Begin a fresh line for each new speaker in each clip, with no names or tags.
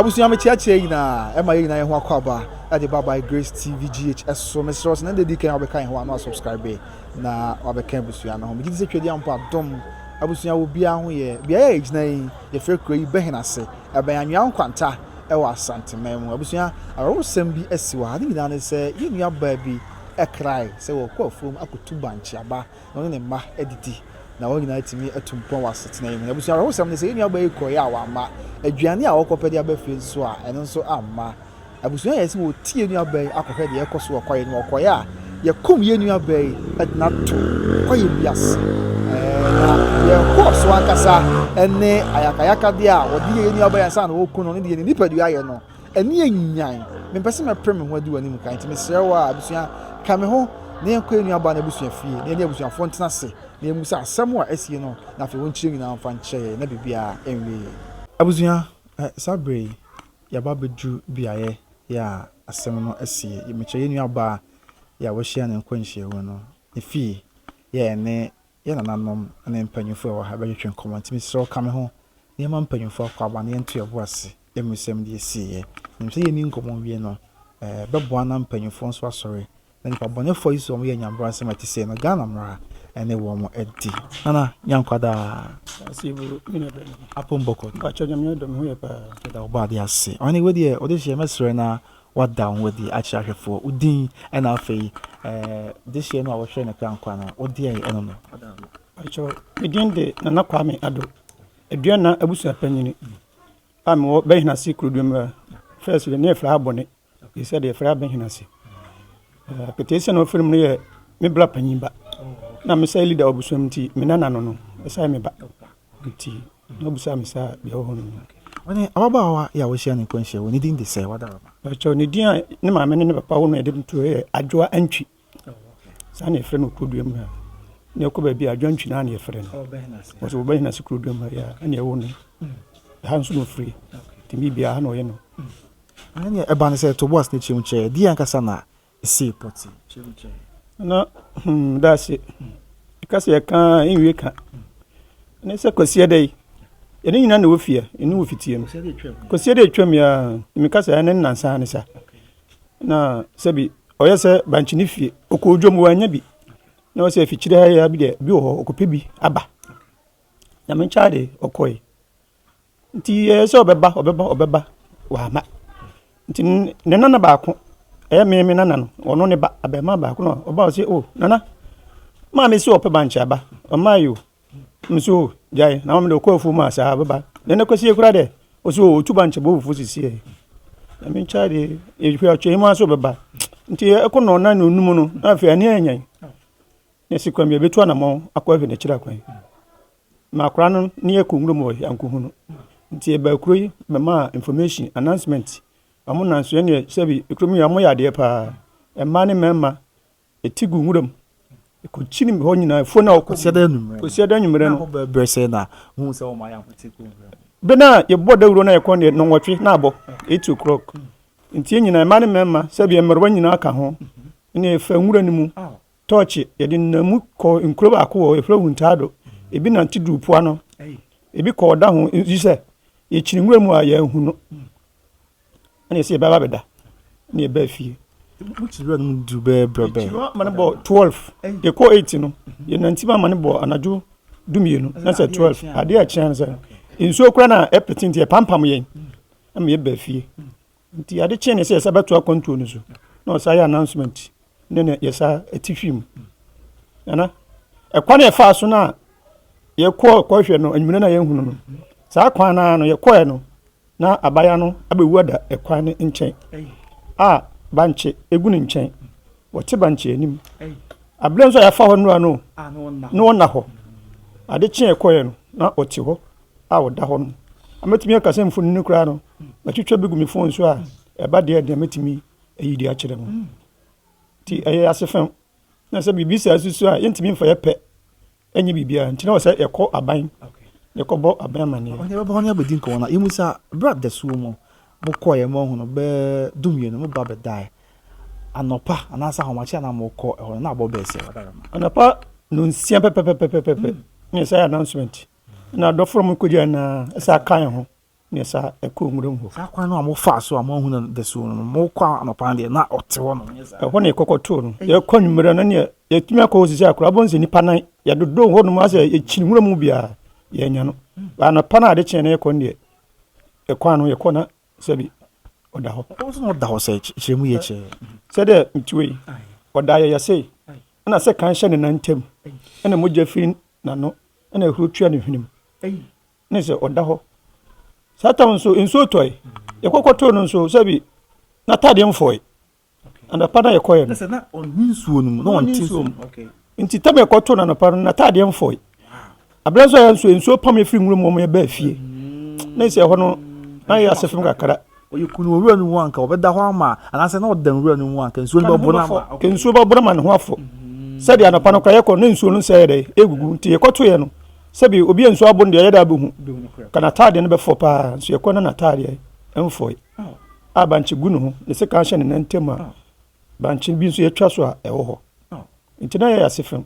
abusua me kyeakyea nyinaa ɛma yɛ nyinaa yɛ ho akɔ aba ɛde ba by grace tv gh ɛso mesrɛ wo sɛ na dedi kan wabɛka yɛ ho ano asubscribe na wabɛka abusua no ho megye di sɛ twɛdi ampa dom abusua wɔ biara ho yɛ beaeɛ a ɛgyina yi yɛfrɛ kuro yi bɛhen ase ɛbɛn anwea nkwanta ɛwɔ asanteman mu abusua awerɛwosɛm bi asi wɔ ha ne nyinaa ne sɛ yɛ nua baa bi krae sɛ wɔrekɔ afuom akotu bankye aba na wɔne ne mma adidi, na wɔn nyinaa atumi atu mpɔn wɔ asetena yi mu. Na abusua awerɛhosɛm ne sɛ, yɛn nuabaa yi kɔe a wamma aduane a wɔkɔpɛ de aba fie nso a, ɛno nso amma. Abusua yɛe sɛ wɔretu yɛn nuabaa yi akɔhwɛ deɛ ɛrekɔ so wɔ kwaeɛ no mu. Ɔkɔeɛ a, yɛkum yɛn nuabaa yi de no ato kwaeɛ bi ase. Na yɛkɔɔ so ankasa ne ayakayakadeɛ a wɔde yɛ yɛn nuabaa yi ansa na wɔreku no, ne deɛ ne nipadua ayɛ no. Ɛno yɛ Nyan! Mempɛ sɛ mɛpere me ho adi w'anim kan, enti mesrɛ wo ara, abusua, ka me ho na yɛnkɔ yɛn nuabaa no abusua fie, na yɛne abusuafoɔ ntena ase na yɛmmisa asɛm a asie no, na afei wɔnkyerɛ nyinaa mfa nkyerɛ yɛn, na biribiara nwie yɛn. Abusua, saa berɛ yi, yɛaba abɛduru beaeɛ a asɛm no asie. Mekyerɛ yɛn nuabaa yi a wɔahyia no nkwanhyiamu no ne fie, yɛ yɛne Yɛn nananom ne mpanyimfo a ɛwɔ ha bɛtwetwe nkɔmmɔ, enti mesrɛ wo ka me ho na yɛmma mpanyimfo akwaaba na yɛnto yɛn bo ase ammisa mu deɛ ɛsiiɛ. Menim sɛ yɛnni nkɔmmɔ nwie no, ɛbɛboa na mpanyimfoɔ nso asɔre na nnipa bɔnɛfoɔ yi nso a wɔyɛ nyabrasɛm a ɛte sei no, Ghana mmara ne wɔn adi. Nana Nyankwa daa. Ase bu
me nua bɛn. Apom Bɔkot. Mpakyɛw
Nyame adom me ho
yɛ paa. Yɛda wo bɔ adeɛ ase.
Ɔhene wei deɛ wode hyeɛ mɛsrɛ na Wɔada wo ho adi akyerɛ ahwɛfoɔ wo din, ɛna afei dehyeɛ no a wɔhwɛɛ no korankora no wodeɛn ɛno no ada adi? Mpakyɛw,
me din de Nana Kwame Addo, Aduana abusuapanyin a mewɔ Bɛnhyinase Kuroduamura. First deɛ na yɛfrɛ ha Bɔne, ɛsɛ sɛ deɛ yɛfrɛ ha Bɛnhyinase. Ketesia na wɔfrɛ mu no yɛ me bra panyin ba, na mesɛ leader wɔ abusua mu nti me nana no no ɛsɛ sɛ ɔyɛ me ba nti. Na obisaa me sɛ, Deɛ wohunu no nie? Ɔne ababaawa
yi a wɔahyia no nkɔnhyia wɔ ne din de sɛ wada aba. Ɛkyɛw ne din a
ne maame ne ne papa wɔ no a ɛde no to yɛ Adwoa Antwi. Saa na yɛfrɛ no Kuroduam ha. Na ɛkɔ baabi a Adwoa Antwi no ara na yɛfrɛ no. Wɔsɛ wɔba hena se Kuroduam ha yɛ ɛna ɛwɔ no. Ha nso na ɔfiri. Tumi biara ha na ɔyɛ no. Ɛne
ɛba no sɛ Toboas ne Kyem kyɛ deɛ ankasa na sii pɔte. Na
hmm, daase. Ɛka sɛ yɛka a, ɛnwie ka. Ne sɛ kwasiɛ dɛ yi, yɛne nyina na wɔ fie, ɛne wɔ fitie mu. Kwasiɛ dɛ atwam yi a, meka sɛ ɛne nansa ne sa. Na sɛbi, ɔyɛ sɛ bankye ne fie, ɔkɔ odwom wɔanya bi. Na ɔsɛ afikyire ha yɛ bi deɛ, bi wɔ hɔ, ɔkɔpɛ bi aba. Nyame nkyɛn ade, ɔkɔe. Nti ɛyɛ sɛ ɔbɛba ɔbɛba ɔbɛba wama. Nti ne nana baako ɛyɛ me me nana no ɔno ne ba abɛɛma baako no ɔba ɔse o oh, nana maame si ɔpɛ bankye aba ɔmaa yi o mese o oh, gyae na maame de ɔkɔ afuo mu a saa bɛba na ɛnɛ kwasie kora dɛ ɔse o oh, ɔtu bankye bɔ fufuo sisiɛ ɛme nkya de ɛhwɛ ɔtwɛn mu aso bɛba nti ɛkɔ na ɔna ne ɔnum no na afei ani anyan na ɛsi kwan bi ɛbɛtu anamɔ akɔ afei na ɛkyerɛ akwan M'akora no ne yɛkɔ nwura mu wɔ Yanku ho no, nti yɛbaa kuro yi bɛmaa information, announcement. Wɔn nam so ɛneɛ sɛbi kurom yi wɔyɛ adeɛ paa. Mmaa ne mmarima ɛti gu nwura mu. Ɛkɔkyini hɔ nyinaa afuo no a wɔkɔ. Kɔsi ɛda anwummerɛ. Kɔsi ɛda
anwummerɛ no. Bɛbrɛ sɛ
na
hu sɛ wɔn ayɛ akɔti kuro nwura mu. Bɛ na
yɛbɔ dawuro na yɛkɔ neɛ nɔnwɔtwe na abɔ eight o'clock. Nti yɛn nyinaa mmaa ne mmarima sɛbi mmerewa nyinaa ka ho. Ɛneɛ yɛfa nwura no mu. Tɔɔkye, yɛde nenam mu kɔɔ nkuro baako wɔ yɛfrɛ Huntado, ebi nante duruu po ano, ebi kɔɔ ɔda ho, nso sɛ yɛkyiri nwura mu a yɛanhu no, ɛna yɛsɛ yɛbɛba abɛda, ɛna yɛbaa fie. Mokyiri nwura no mu
duru bɛɛ berɛ bɛn? Yɛkyiri ama no bɔ 12,
yɛkɔɔ 8 no, yɛnante mu ama no bɔ anadwo dumienu, na sɛ 12, adeɛ a ɛkyea no sɛ nsuo kora no a ɛpete nti ɛpampam yɛn, ɛma yɛbaa fie. Nti ade kyee ne sɛ yɛsa bɛto akwantuo no so na ɔsa yɛ announcement ne na yɛsa ti fi mu nana ɛkwan na yɛfaa so no a yɛkɔɔ kɔhwɛ no anwummerɛ no a yɛhunu no saa kwan no no yɛkɔɛ no na abaya no abɛwu ada ɛkwan no nkyɛn a bankye ɛgu ne nkyɛn wɔte bankye anim aberɛ nso a yɛafa hɔ nnora no na ɔnna hɔ ade kyee ɛkɔɛ no na ɔte hɔ a ɔda hɔ no, na mɛtumi aka sɛ mfonini no koraa no, matwitwa bi gu me fon so a, ɛba deɛ deɛ mɛtumi ayi de akyerɛ mu. Nti ɛyɛ ase fam na sɛ biribi saa susu a yɛntumi mfa yɛ pɛ ɛnyɛ biribiara nti na wɔ sɛ yɛkɔ aban yɛkɔbɔ aban amanneɛ. Ɔhene bɛbɔ hɔ ne abɛdi nkɔmmɔ
no a yɛmu sɛ berɛ a dasuo mu mokɔeɛ ma ɔhono bɛɛ dumienu mo ba bɛdaeɛ anɔpa anaasɛ ahomakye a na mokɔ ɛhɔ no na abɔ bɛɛ sɛ. Anɔpa nonsia
pɛpɛpɛpɛpɛpɛ ne sɛ announcement. Na dɔfoɔ no kɔgyaa nyinaa ɛsɛ aka yɛn ho neɛ saa ɛkɔɔ nwuram hɔ. Saa kwan no a mofaa so a
moanhu no dasuo no, mokɔ anɔpa no deɛ na ɔte hɔ nom, ɛnyɛ saa? Ɛhɔ na yɛkɔkɔ too
no. Yɛkɔ anwummerɛ no neɛ yɛtumi akɔ hɔ sisi a koraa wobɛhu sɛ nnipa nan yɛdodoo hɔ nom asɛ yɛkyini nwura mu biara yɛannya no. But anɔpa no a ade kyeɛ na yɛkɔ no deɛ ɛkwan no yɛkɔ na sɛbi ɔda hɔ. Ɛkɔm sɛ na ɔda hɔ sɛ
kyerɛ mu yɛ kyerɛ. Sɛdeɛ metuo
yi ɔdaa yɛyɛ sei ɛna sɛ kan hyɛ ne nan ntam ɛna mogya firi N'ano na ahuro tua ne hwenem. Ne sɛ ɔda hɔ. Saa tam nso, nsuo tɔe. Yɛkɔkɔ too no nso, sɛbi n'ataadeɛ mfɔe. Anɔpa na yɛkɔeɛ no. Na ɔnni nsuo no
mu. Na ɔnni nsuo mu. Nti tam yɛkɔ
too no anɔpa no, n'ataadeɛ mfɔe. Abena nso ayɛ nso, nsuo pam yɛ firi nwura mu wɔn yɛ baa fie. Ne sɛ ɛhɔ no, na yɛ asefem kakra. Ɔyɛ kunu wɔ nwura no
mu a, anka ɔbɛda hɔ ama, anaasɛ na ɔda nwura no mu a, anka nsuo no bɛboro no ama. Anka nsuo bɛboro ama ne ho
afɔ. Sɛdeɛ anɔpa no koraa yɛkɔ no, na nsuo no nsa yɛ dɛn? Ɛregugu. Nti yɛkɔtoeɛ no, sɛbi obi a nsuo abɔ no deɛ, yɛda abɛhu. Anka n'ataadeɛ no bɛfɔ pa ara, nso yɛkɔ na n'ataadeɛ mfɔe. A bankye gu ne ho, ne sekan hyɛ ne nan ntam a bankye bi nso yɛatwa so a ɛwɔ hɔ. Nti na yɛyɛ ase fam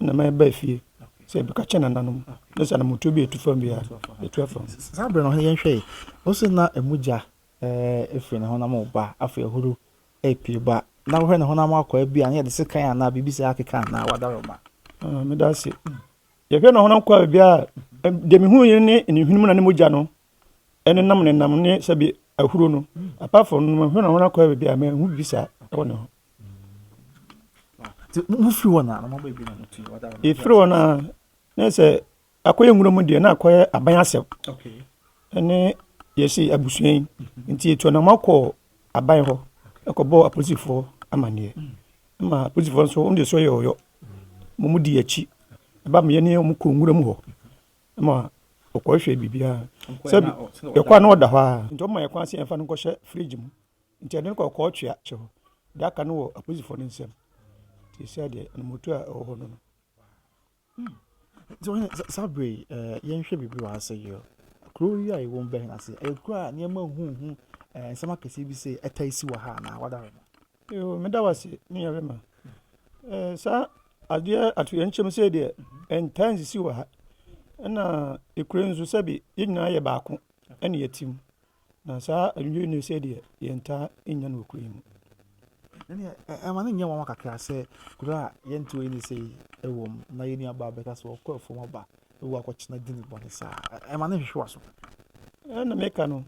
na mɛba fie. sɛ ebi ka kyerɛ nananom ne sɛ anamotuo bi retu fam bi a, etu afa mu. Saa bere no hɔ no yɛnhwɛ
yi, wose na emu gya ɛɛ efiri ne honam ba, afei ahuru epie ba, na wohwɛ ne honam akɔ ebi a na yɛde sekan anaa biribi saa akeka anaa wadaroma. Ah, meda ase.
Yɛhwɛ ne honam kɔ a baabi a deɛ mehu yi ne ne hwene mu na ne mogya no Ɛnenam ne nam ne sɛbi ahuro no apart from no hwɛ na wɔn akɔ baabi a mɛhu bi saa ɛwɔ ne ho.
Wofiri hɔ na mama baabi na motu yi wada. Efiri hɔ na
ne sɛ akɔyɛ nwura mu deɛ na akɔyɛ aban asɛm ɛne yɛsi abusua yi nti etu anam akɔ aban hɔ ɛkɔbɔ apolisifoɔ amaneɛ ɛma apolisifoɔ nso wɔn deɛ so yɛ ɔyɔ wɔn di akyi ɛba meyɛ ne wɔn kɔ nwura mu hɔ. Ma ɔkɔhwɛ biribiara. Sɛ bi yɛkɔ a na ɔda hɔ ara. Nti ɔma yɛn kwan sɛ yɛmfa no nkɔhyɛ fridge mu. Nti yɛde no kɔ ɔkɔɔtwea kyɛ hɔ. Deɛ aka no wɔ apolisifoɔ no nsam. Nti seesei deɛ anammotuo a ɛwɔ hɔ no no.
Nti wohu sɛ saa berɛ yi ɛɛ yɛnhwɛ biribi wɔ ha sɛ yɛ. Kuro yi a yɛwɔ mu bɛn ase? Ɛyɛ kuro a nneɛma huhu ɛɛ nsɛm akɛseɛ bi sei ɛtaa si wɔ ha anaa wada hɔ? Yoo meda wo
ase me nua bɛma. Ɛɛ saa adeɛ atoyerɛnkyɛm sei deɛ ɛntaa nsisi wɔ ha. Ɛna ekura nso sɛbi yɛn nyinaa yɛ baako ɛna yɛte mu. Na saa adwidwene sei deɛ yɛntaa nnya no wɔ kuro yi mu. Ɛneɛ
ɛma no nyɛ nwanwa kakra sɛ kuro a yɛnteɛ yi ne sei ɛwɔ mu na yɛn nuabaa bɛka sɛ ɔkɔ afuom aba ɛwɔ akɔkyena dini bɔne saa. Ɛma no hwehwe w'aso. Ɛna meka
no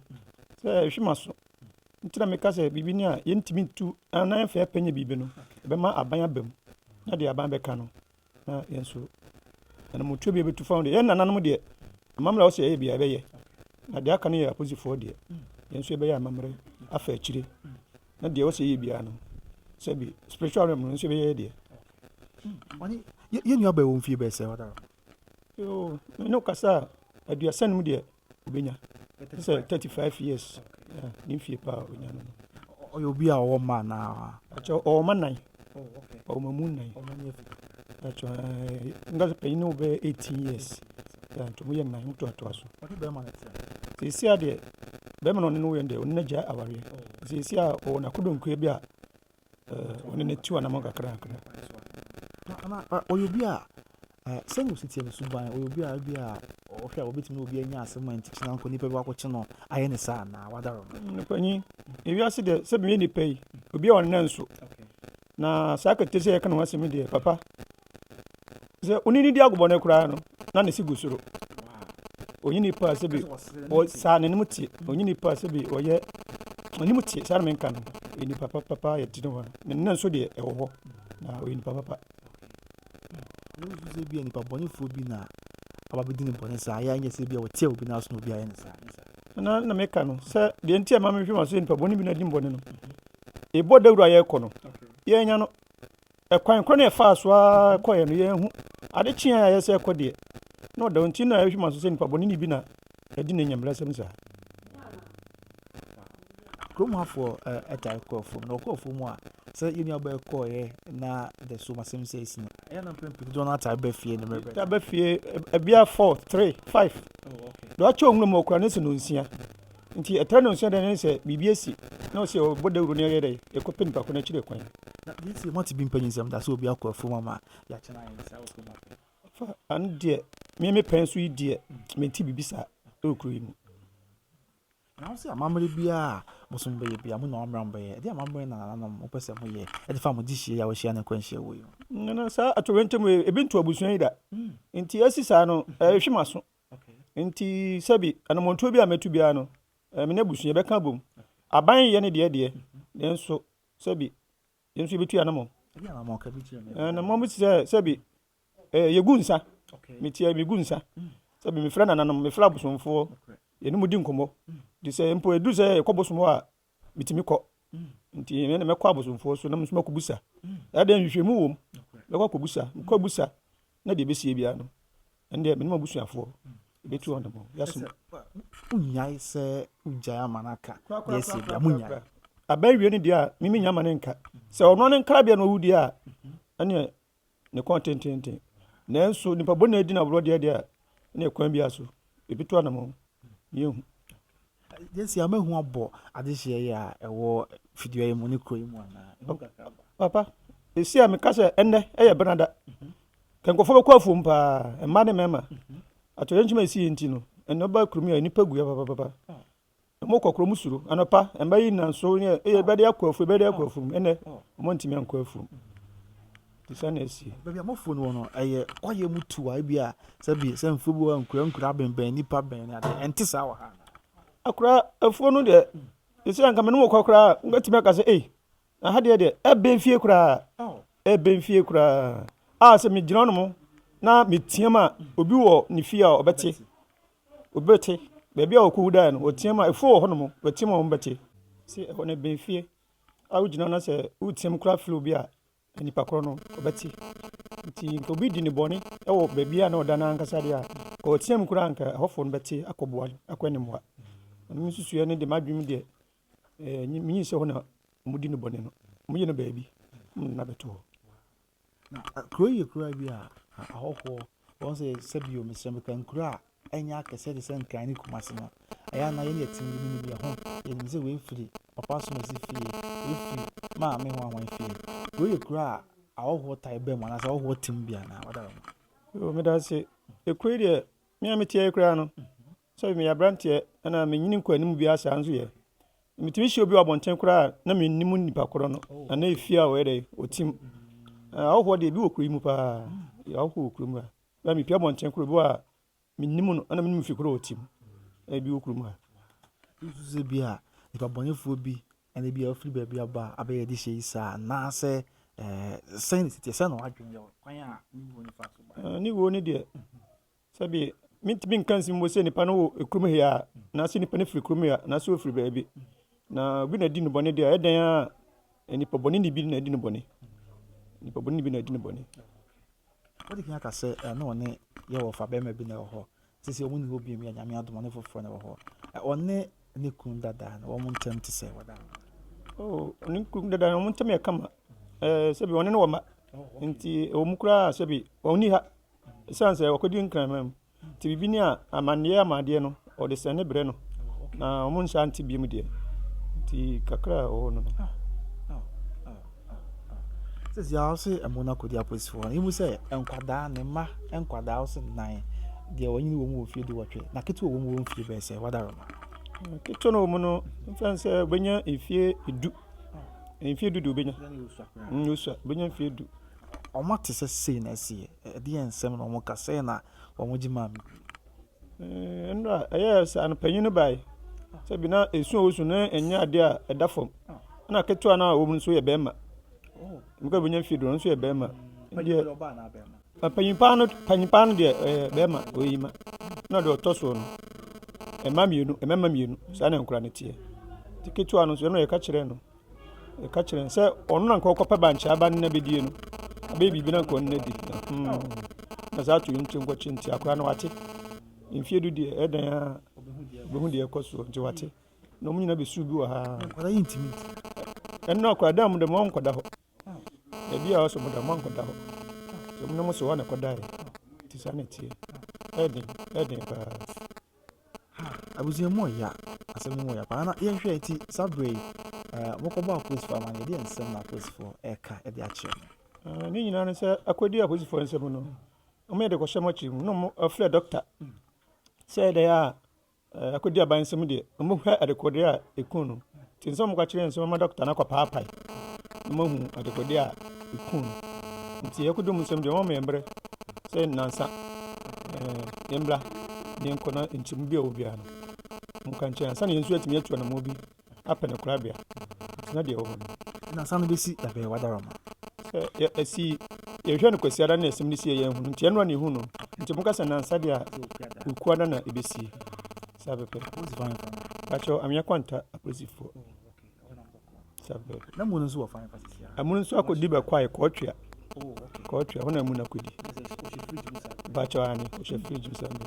sɛ ɛhwe m'aso. nti na meka sɛ biribi ni a yɛntumi ntu na yɛmfa yɛpɛ nyɛ biribi no ɛbɛma aban aba mu na deɛ aban bɛka no na yɛn nso anamotuo bi bɛtu fa ho deɛ yɛn nananom deɛ amammerɛ a wɔsɛ yɛyɛ bia yɛbɛyɛ na deɛ aka no yɛ aposifoɔ deɛ yɛn nso yɛbɛyɛ amammerɛ afa akyire na deɛ wɔsɛ yɛyɛ biara no sɛbi spiritual realm no nso yɛbɛyɛ deɛ
yɛn nua bɛwɔ mfie bɛsɛ ɔdara
ne kasa a aduasa no mu deɛ obenya te sɛ thirty five years yeah, ne mfie paa a onya no ɔyɛ obi a
ɔwɔ mma anaa akyɛ ɔwɔ mma nan
ɔwɔ mma mu nan akyɛ nga sɛ panyin no bɛyɛ eighteen years yeah, nti ɔmo yɛ nan ɔmo toatoa so sisi adeɛ bɛrima na ɔne no yɛ deɛ ɔne n'agya awareɛ sisi a ɔwɔ n'akodonkua bi a Ɔno na ɛtu anamɔ kakra kakra. Ana
ɔyɛ obi a sɛnea osi teɛ no so ban ɔyɛ obi a ebi a ɔhwɛ a obetumi obi anya asɛm a nti kyena nkɔ nipa bi wakɔkye no ayɛ ne saa na wadaro no. Mpanyin
ewiase deɛ sɛ bɛyɛ nipa yi obi a ɔnna nso na saa kete sɛ yɛka ne ho asɛm deɛ papa sɛ onini di agobɔ no koraa no na ne si gu soro onye nipa sɛ bi ɔsaa n'anim tie onye nipa sɛ bi ɔyɛ anim tie saa na menka no ɔyɛ nipa papapa yɛ ti no hɔ ne nna nso deɛ ɛwɔ hɔ na ɔyɛ nipa papa
wosu sɛ bi a nipa bɔnefoɔ bi na aba bɛdi ne bɔne saa yɛ anyɛ sɛ bi a wɔteɛ obi no aso na obi ayɛ ne saa na na meka no
sɛ deɛ nti a ma mehwɛ ma so yɛ nipa bɔne bi na adi mbɔne no ɛbɔ dawuro a yɛkɔ no yɛnya no Ɛkwan korɔ no a ɛfaa so ara kɔeɛ no, yɛanhu. Ade kyeeɛ a ayɛ sɛ ɛrekɔ deɛ, na ɔda hɔ nti na ɛhwɛ ma so sɛ nnipa bɔneni bi na adi ne nyambrasɛm saa.
Kurom hafoɔ taa kɔ afuom, na wɔkɔ afuom a, sɛ yɛn nuabaa yi kɔeɛ na the so masɛm sɛ ɛsi no, ɛyɛ na mpɛn pii dodoɔ no ataa ba fie ne mmerɛ. Taa ba fie,
ɛbia four, three, five. Deɛ wakyɛ ɔhunu ma ɔkura ne sɛ no nsia. Nti ɛtrɛ no nso dɛn ne sɛ biribi asi na ɔsɛ ɔbɔ dawuro na yɛyɛ dɛn yɛkɔpɛ nipa ko no akyire kwan. Na wei deɛ moate
bi mpanyin nsɛm da sɛ obi akɔ afuom ama yɛakyɛ no ayɛ ne saa wɔ kurom ha. Fa
ano deɛ me me pɛn so yi deɛ mente biribi saa wɔ kuro yi mu.
Na wo sɛ amammerɛ biara bosom bɛyɛ bia mo na wammra mbɛyɛ ɛde amammerɛ na nananom mopɛ sɛ moyɛ ɛde fa mo de hyia yi a wɔahyia ne nkwanhyia wɔ yi ho. Nana saa
atoyerɛnkyɛm wei ebi nto abusua yi da nti asi saa no ɛhwe maso. Nti sɛbi anamontuo bi a mɛtu biara no, eh, me ne abusua yɛbɛka abom. Aban yɛ ne deɛ deɛ, nanso sɛbi yɛn nso yɛbɛtu yɛn anamɔ.
Anamɔ bi sɛ
sɛbi eh, yɛgu nsa, metia megu nsa, sɛbi mefrɛ nananom, mefrɛ abosomfoɔ, yɛne mu di nkɔmmɔ. Nti sɛ mpo ɛduru sɛ yɛkɔ bosom hɔ a, metumi kɔ nti ɛnɛ na mɛkɔ abosomfoɔ so na mo nso mɛkɔ busa ɛdɛ nhwehwɛmu wɔ mu mɛkɔ akɔ busa mekɔ busa na deɛ ɛbɛsie biara no ɛndeɛ menom abusuafoɔ ɛbɛtu hɔ nom yɛasom wonyae
sɛ wogyae ama no aka deɛ ɛsie biara monyae abɛwie no deɛ a
meme nya ma no nka sɛ ɔno ne nkrabea na ɔwudie a ɛneɛ ne kɔn tenteenten. Nanso nnipa bɔne di no aborɔ deɛ deɛ a, ɛne kwan biara so, ɛbɛtu anamɔn. Yɛhu.
Jesse, ama hu abɔ adehyeɛ yi a ɛwɔ fidua yi mu ne kuro yi mu anaa? Papa,
ɛsi a meka sɛ ɛnnɛ ɛyɛ benada. Mhm. Ka nkurɔfoɔ bɛkɔ afuom paa, mma ne mmarima. Mhm. Atɔyɛ nkyima ɛsi yɛ nti no, ɛnɛ ba kurom yi a nnipa guiɛ papapapa. Ah. Mo kɔkorɔ mo suro anɔpa mba yi na so yɛ eye bɛde akɔ afuo bɛde akɔ afuo mu ɛnɛ wɔn ntumi ankɔ afuo mu te sɛ na esi. Baabi a mofuo no wɔ no
ɛyɛ kwaeɛ mu tuwa ebi a sɛbi sɛ mfuo bi wɔ nkura nkura abɛnbɛn nipa bɛn ne adeɛ ɛnte saa wɔ ha. Akora
afuo no deɛ esi anka mene mo kɔ koraa ngatumi aka sɛ ei aha deɛ deɛ ɛbɛn fie koraa ɛbɛn fie koraa a sɛ megyina no mo na meteam a obi wɔ ne fie a ɔbɛte. obi bɛte. Baabi a wɔkɔwu daeɛ no, wɔteam a, afuo wɔ hɔnom, wɔteam a, wɔbɛte. Sɛ ɛhɔ no ɛbɛn fie a wogyina hɔ na sɛ woteam koraa frɛ obi a, nipa korɔ no, ɔbɛte. Nti nka obi di ne bɔne wɔ baabi a na ɔda no ara ankasa deɛ a, nka ɔteam koraa a, nka ɛhɔfoɔ no bɛte akɔboa no, akɔ anim hɔ a. Ɛno me nsusuiɛ no deɛ, m'adwene mu deɛ, ɛɛ, menyi sɛ hɔ na wɔdi no bɔne no. Wɔyi no baabi na bɛto hɔ. Na
kuro yi yɛ kuro bi a ahɔhoɔ wɔn sɛ sɛbio mesrɛ mo kan kuro a ɛnyɛ akɛseɛ te sɛ nkran ne kumase no ɛyɛ ana yɛn yɛ tini mu bi ɛho yɛnim sɛ wei firi papa asomasi fie wei firi maame ho ahoan fie kuro yɛ kuro a ahɔhoɔ tae bɛn mu anaasɛ ahɔhoɔ te mu bi anaa wada hɔ. Medase
ekuro yi deɛ mmea meteɛ koraa no sɛ meyɛ aberanteɛ ɛna menyini nkɔ anim biara saa nso yɛ metumi hyia obi wɔ abɔnten koraa na mennim nipa korɔ no anaa efie a ɔyɛ dɛ ɔtim ahɔhoɔ deɛ bi wɔ kuro yi mu paa ahɔhoɔ wɔ kuro mu a bɛa mepi abɔnten korɔ bi wɔ a mennim no ɛna menim fi korɔ ɔtim ɛbi wɔ kuro mu a nso
bi a nipa bɔnefoɔ bi ɛna bi a ɔfiri baabi aba abɛyɛ de hyɛ yi saa anaasɛ sɛn ne siteɛ sɛn na wadwene yɛ kwan a ne wuo ne fa so ba ne wuo ne deɛ
Sɛbi mentumi nka nsi mpo sɛ nipa no wɔ kurom he a, anaasɛ nipa no firi kurom he a, anaasɛ ofiri baabi. Na obi na adi no bɔne deɛ a, ɛdɛn ara a, nipa bɔne ni bi na adi no bɔne. Nipa bɔne ni bi na adi no bɔne.
Wode kan aka sɛ eh, na ɔne Yehowa fa bɛrima bi na ɛwɔ hɔ. Te sɛ wɔn ni hɔ bio mu yɛ Nyame adom, ɔne foforɔ na ɛwɔ hɔ. Eh, Ɔne ne kunu dada no, wɔn ntam te sɛ wɔda. Oh, ɔne
ne kunu dada no, wɔn ntam yɛ kama. Eh, sɛbi ɔne no wɔ mma. Nti ɛwɔ mu koraa sɛbi ɔnni ha. Esiane sɛ ɔkɔdi Nkraman mu nti, biribi ni a, amanneɛ ama adeɛ no, wɔde sɛne brɛ no, na wɔnhyɛ ante biom deɛ nti kakra a ɔwɔ no no.
sisi a ɔse ɛmo no akɔdi apolisifoɔ no ɛmu sɛ nkwadaa ne mma nkwadaa ɔse nan deɛ wɔnyini wɔ mu wɔ mfie de wɔtwe na ketewa wɔ mu wɔ mfie bɛɛ sɛ wadaro no ketewa no wɔ mu
no mfɛn sɛ wobɛnya mfie du mfie du de wobɛnya wosua wobɛnya mfie du Wɔate sɛ
sei na ɛsi yɛ. Ɛdeɛn nsɛm na wɔka sɛɛ na wɔgye maa me duro.
Ee, nnora ɛyɛɛ sɛ anɔpanyin no bae. Sɛbi na esu a osu no nyɛ ade a ɛda fam. Ɛna ketewa no a ɔwɔ mu no nso yɛ barima. Meka obonya mfe du no nso yɛ barima. Deɛ
panyin paa no panyin paa no
deɛ ɛyɛ barima oyi ma. Ɛna deɛ ɔtɔ soɔ no mma mmienu mmarima mmienu saa na nkwadaa no teɛ. Te ketewa no nso ɛno yɛka kyerɛɛ no. Yɛka kyerɛ no sɛ ɔno na nka ɔkɔpɛ bankye aba no na bɛdie no abɛyɛ biribi na nka ɔno na di na saa ato nti nkɔkye nti akora no wate mfie du deɛ ɛdɛn a bɛhu deɛ ɛkɔ soɔ nti wate na ɔmo nyina bɛsu bi wɔ ha
ɛno
akora dɛ mo dɛ mo nkɔda hɔ baabi a ɔsɛ mo da mo nkɔda hɔ sɛ mo na mo sɛ hɔ na ɛkɔdaeɛ nti saa na ɛteɛ ɛden ɛden paa Ah, abusua
mu ɔya, asɛm no mu ɔya paa na yɛnhwɛ ti saa berɛ yi eh, mokɔbɔ apolisifoɔ ama no yɛdeɛ nsɛm na apolisifoɔ ɛka ɛde akyerɛ no eh, ne nyinaa no
sɛ akɔdi apolisifoɔ nsɛm no ɔmoyɛ de kɔhyɛ mɔkyere mu na ɔmo afrɛ dɔkta sɛ ɛdɛyɛ a eh, akɔdi aban nsɛm deɛ ɔmohwɛ adekodeɛ a ɛku no Ntsi nnsɛ ɔmo ka kyerɛ nnsɛ ɔmɛma dɔkta no akɔpaapae na moahu adekode a eku no. Ntsi yɛkɔ do mu nsɛm dze, wɔma yɛn mber sɛ nnansa, ɛɛ, yɛmbra na yɛnkɔ na nkyɛmu bi a ɔwɔ biara no, ɔmo ka nkyɛn ansaana yɛn so yɛatumi atu anamɔn bi apɛ no korabea. Ntsi na deɛ ɔwɔ hɔ no. Nnansa no besi
da bɛn w'adarama? Sɛ yɛ,
esi, yɛhwɛ no Kwasiada na asɛm no sie a yɛanhu no, ntsi ɛno ara na ehu no. Ntsi moka sɛ nnansa deɛ a, Ekuada na ebesie. Saa pɛpɛ. Polisi fan fan. Pacho amia kwanta polisi fo. Saa pɛpɛ. Na mu no nso
wɔ fan fa sisi. Amu no nso akɔdi bɛkɔ
ayɛ kɔɔtwea. Kɔɔtwea hɔ na amu no akɔdi. Pacho ani ɔhyɛ fridge bisa mi.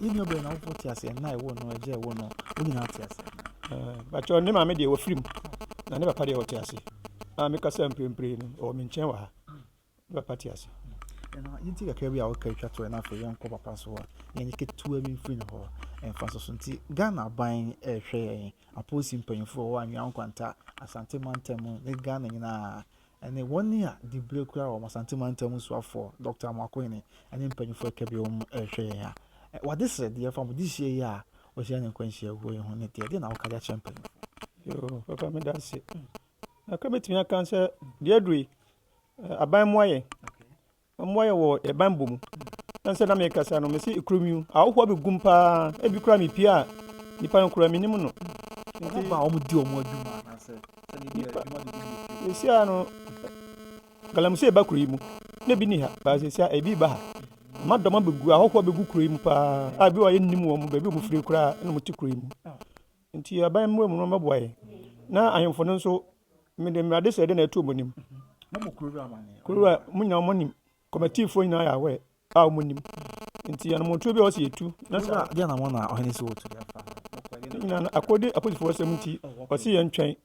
Yɛn nyɛ
bɛn na wofo te ase na ɛwɔ no ɛgye ɛwɔ no. Wo nyinaa te ase. Pacho ne
maame deɛ wɔ firim. Na ne papa deɛ ɔte ase. A mekasa mprempren no ɔwɔ me nkyɛn wɔ ha. Papa te ase. Ɛna yɛn ti kakra
bi a wɔka atwa toɔ na afei yɛnkɔ papa nso hɔ a na yɛn ketewa bi mfiri ne hɔ ɛmfa so so nti Ghana aban ɛrehwɛ yɛn apolisi mpanyinfoɔ wɔ anwea nkwanta asante mantam mu ne Ghana nyinaa ɛne wɔn a dibire kura wɔn asante mantam mu soafoɔ Dr. Amoakohene ɛne mpanyinfoɔ ɛka bi wɔn ɛrehwɛ yɛn a wɔde srɛdeɛ fa mo de hyia yi a wɔhyia ne nkwanhyia wuo yi ho ne deɛ deɛ na wɔka de akyerɛ mpanyinfoɔ. Yoo papa meda
ase. Ɛka mɛtumi aka sɛ deɛ aduru yi Aban mmoa yɛn. Mmoa yɛn wɔ yɛn banbɔ mu. Ɛne sɛ na mekasa no, mese ekuro mi ahohoɔ abɛgu mu paa. Ebi koraa mepie a, nipa no koraa menim no. Nti ba wɔn
di wɔn adwuma anaasɛ sɛdeɛ bi adwuma
de bi yɛ. Esia no, galamsey ba kuro yi mu. Na ebi ni ha, baasi esia ebi ba ha. Ama dɔm abɛgu, ahohoɔ abɛgu kuro yi mu paa. A ebi wɔ yɛ nnim wɔn, baabi wɔn firi koraa, ɛna wɔn ti kuro yi mu. Enti aban mmoa mu no mmɛboa yɛn, na ahemfo no nso, mede mmara adesrɛde na ɛtoo mo anim. Na mo kurow
wura, munya wɔn anim,
komatifoɔ nyinaa yɛ aware a wɔnnim. Enti anammɔntuo biara a wɔsi yɛ tu, na saa ara na wɔn a
ɔhene si wɔn tu de fa nokware no. Ne nyinaa no, akode
akodefoɔ asɛm nti, wɔse yɛntwɛn,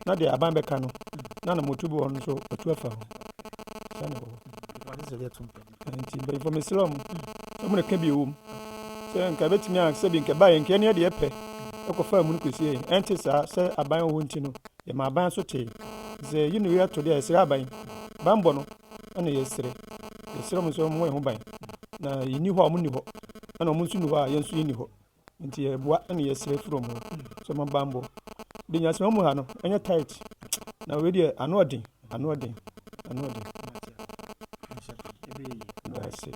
na deɛ aban bɛka no, na anammɔntuo bi wɔ hɔ no nso, wɔatu afa ho. Saa na ɛwɔ hɔ. nti mpanyinfo mesrɛ mo sɛ mo nka bi ɛwɔ mu sɛ nka ɛbɛtumi a sɛ bi nka ɛbaeɛ nka ɛne ɛdeɛ pɛ ɛkɔfa mu no kɔsi yɛn ɛnte saa sɛ aban wɔ hɔ nti no yɛma aban so tee sɛ yi ne wei ato deɛ yɛsrɛ aban banbɔ no ɛna yɛsrɛ yɛsrɛ mo sɛ mo ho ban na yɛni hɔ a ɔmo ni hɔ ɛna ɔmo nso ni hɔ a yɛn nso yɛni hɔ Nti yɛboa na yɛsrɛ firi ɔmo sɛ ɔmo banbɔ. De nyasema mu ha no ɛnyɛ tight na wei deɛ ano ɔden ano ɔden ano ɔden.
Daase.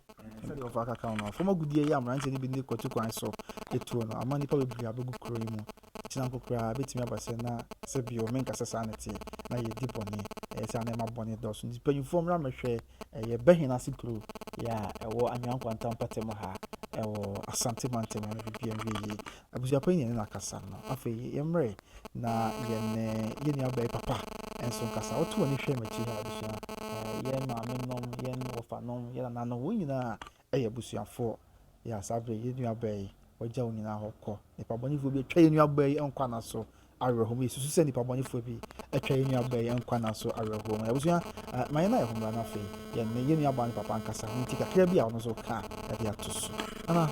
Sɛdeɛ ɔfa aka kan no fam agudeɛ yi aberanteɛ no bi ne kwatu kwan so etuo no ama nnipa bebree abɛgu kuro yi mu. Kyina nko koraa bɛtumi aba sɛ na sɛ bio menka sɛ saa na ɛteɛ na yɛdi bɔne ɛyɛ sɛ ana ɛma bɔne dɔɔso nti mpanyinfoɔ mmra mmɛhwɛ Ɛyɛ Bɛhɛn ase kuro yɛ a ɛwɔ Anwea Nkwanta mpɔtam ha ɛwɔ Asante mantam ano biribi anwie yie. Abusuapɔ yi na yɛne no akasa no. Afei yɛmmrɛ na yɛne yɛn nua bɛyɛ papa nso nkasa. Woto w'ani hwɛ m'akyi ha abusua. Yɛn maame nom, yɛn wɔfa nom, yɛn nana nom, wɔn nyinaa Yɛ abusuafoɔ, yɛ asabere, yɛ nuabaa yi, wagya wo nyinaa hɔ kɔ. Nipabɔnefoɔ bi atwa yɛ nuabaa yi nkwa nna so awerɛhoɔ mu. Yɛsusu sɛ nipabɔnefoɔ bi atwa yɛ nuabaa yi nkwa nna so awerɛhoɔ mu. Abusua, ma yɛn na yɛ ho mmra na afei yɛ ne yɛ nuabaa ne papa nkasa ho nti kakra bi a ɔno nso ɔka a ɛde ato so. Ana,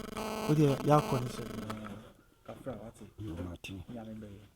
wodeɛ yɛakɔ ne sɛ kakra wate. Nyame bɛyɛ.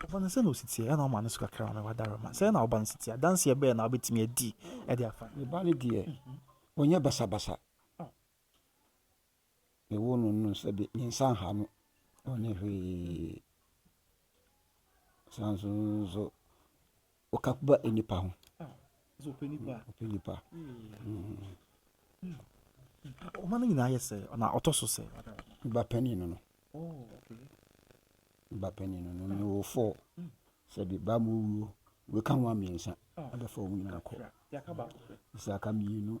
Wɔbɔ no sɛ na ɔsi tia, ɛna ɔma no so kakra ma wadaroma. Sɛ na ɔba no si tia, adanseɛ bɛɛ na wobɛtumi adi de afa. Ne ba no deɛ,
ɔnyɛ basabasa. Mewoo no no sɛ de, me nsa nha no, ɔnyɛ hwee. San so nso, Ɔka ba nnipa ho. Sɛ ɔpɛ nipa. Ɔpɛ nipa.
Ɔma no nyinaa yɛ sɛ ɔna ɔtɔ so sɛ. Ba panin no
no. Oh, ba panin no no wɔ fɔ sɛ bi ba mu wuo weka ho mmiɛnsa abɛfa wɔn nyinaa kɔ. Sɛ aka mmienu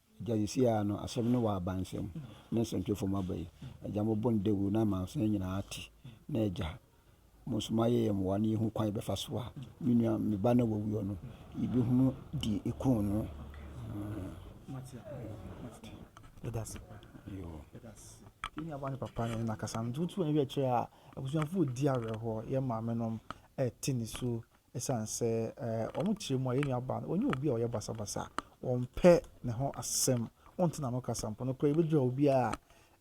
Agya sisi ara no asɛm no wɔ aba nsɛm ne nsɛntwerɛ fam aba yi, Agya mo bo ndawuru na amansan nyinaa ate, na Agya, mo nso mo ayɛ yɛn mmoa na yɛhu kwan yɛbɛfa so a me nua, me ba no a wawuo no, yɛbɛhunu deɛ ɛkuu no. Yɛdase pa. Yɛdase.
Yɛn nuaba ne papa no nakasa no, nti wotu anwerɛ kyerɛ a, abusuafoɔ di awerɛhoɔ, yɛn maamenom ɛte nisuo Esiane sɛ wɔn tiri mu a yɛn nuabaa no ɔnyɛ obi a ɔyɛ basabasa, ɔmpɛ ne ho asɛm, ɔnte n'ano kasa mpo. Nokorɛ yɛbɛdwira obi a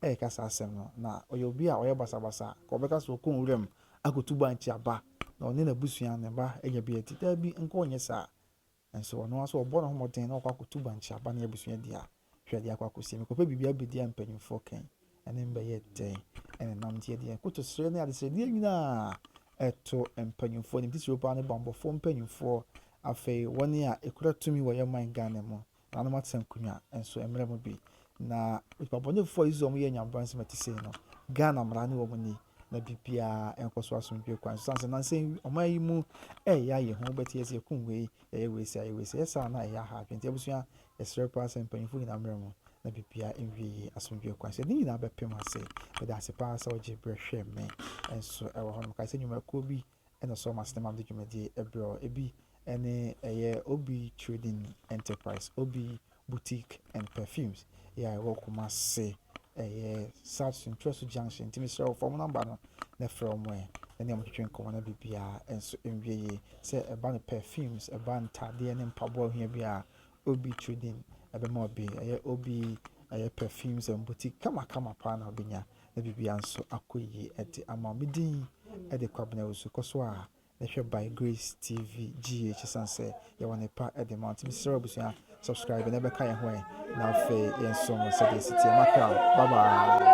ɛreka saa asɛm no, na ɔyɛ obi a ɔyɛ basabasa, anka ɔbɛka sɛ ɔkɔ nwuram akɔtu bankye aba na ɔne n'abusua, ne mma anya bi adi. Daabi, nka ɔnyɛ saa. Nanso ɔno ara nso ɔbɔ ne ho mmɔden na wakɔ akɔtu bankye aba ne abusua di a, hwɛ deɛ akɔ akɔsi. Mekɔpɛ biribi abɛdi a mpanimfoɔ ka yi, ɛne me bɛyɛ dɛn? Ɛne nam nti ɛdeɛ nkotosrɛ ne adesrɛdeɛ nyinaa ɛto mpanimfoɔ anim. Titiriw paa no bammɔfoɔ mpanimfoɔ, afei wɔn a ɛkura tumi wɔ yɛn man Ghana mu, nananom atenkonwa nso mmerɛ mu bi. Na nnipa bɔnefoɔ a Israel mu yɛ nyambransɛm a ɛte sei no, Ghana mmara ne wɔn nni. na biribiara nkɔ so asomdwoe kwan so. Esiane sɛ nansa yi ɔman yi mu reyɛ ayɛ hu, wobɛte yɛ sɛ yɛkum wei, yɛyɛ wei sei, yɛayɛ wei sei. Ɛyɛ saa a, na ɛyɛ aha adwene. Nti abusua, yɛsrɛ paa sɛ mpanyimfo nyinaa mmra mu na biribiara nwie yie asomdwoe kwan so. Yɛde ne nyinaa bɛpem ase. Meda ase paa sɛ wogye berɛ hwɛɛ me nso wɔ hɔnom. Kae sɛ nnwumakuo bi ɛna so wɔn asene ma mede dwumadie brɛ wo. Ebi ne ɛyɛ OB Trading Enterprise, OB Boutique and Perfumes yɛ a ɛwɔ Kumasi, ɛyɛ South Suntuasu Junction. Nti mesrɛ wo fa wɔn nɔmba no na frɛ wɔn ɛ, na ne wɔtwetwe nkɔmmɔ na biribiara nso nwie yie. Sɛ ɛba no perfumes, ɛba ntaadeɛ ne mpaboa a wohia biara a, OB Trading bɛma wo bi. Ɛyɛ OB ɛyɛ Perfumes and Boutique kamakama paa na wobɛnya. Ebibia nso akɔ yie ɛte ama me din ɛde Kwabena Awusu kɔ so a ne hwɛ by Grace TV GH ɛsiane sɛ yɛwɔ ne pa ɛde ma wo nti mesrɛ abusua subscribe na ɛbɛka yɛn ho ɛ na afei yɛn som sɛdeɛ ɛsi teɛ makra bye bye.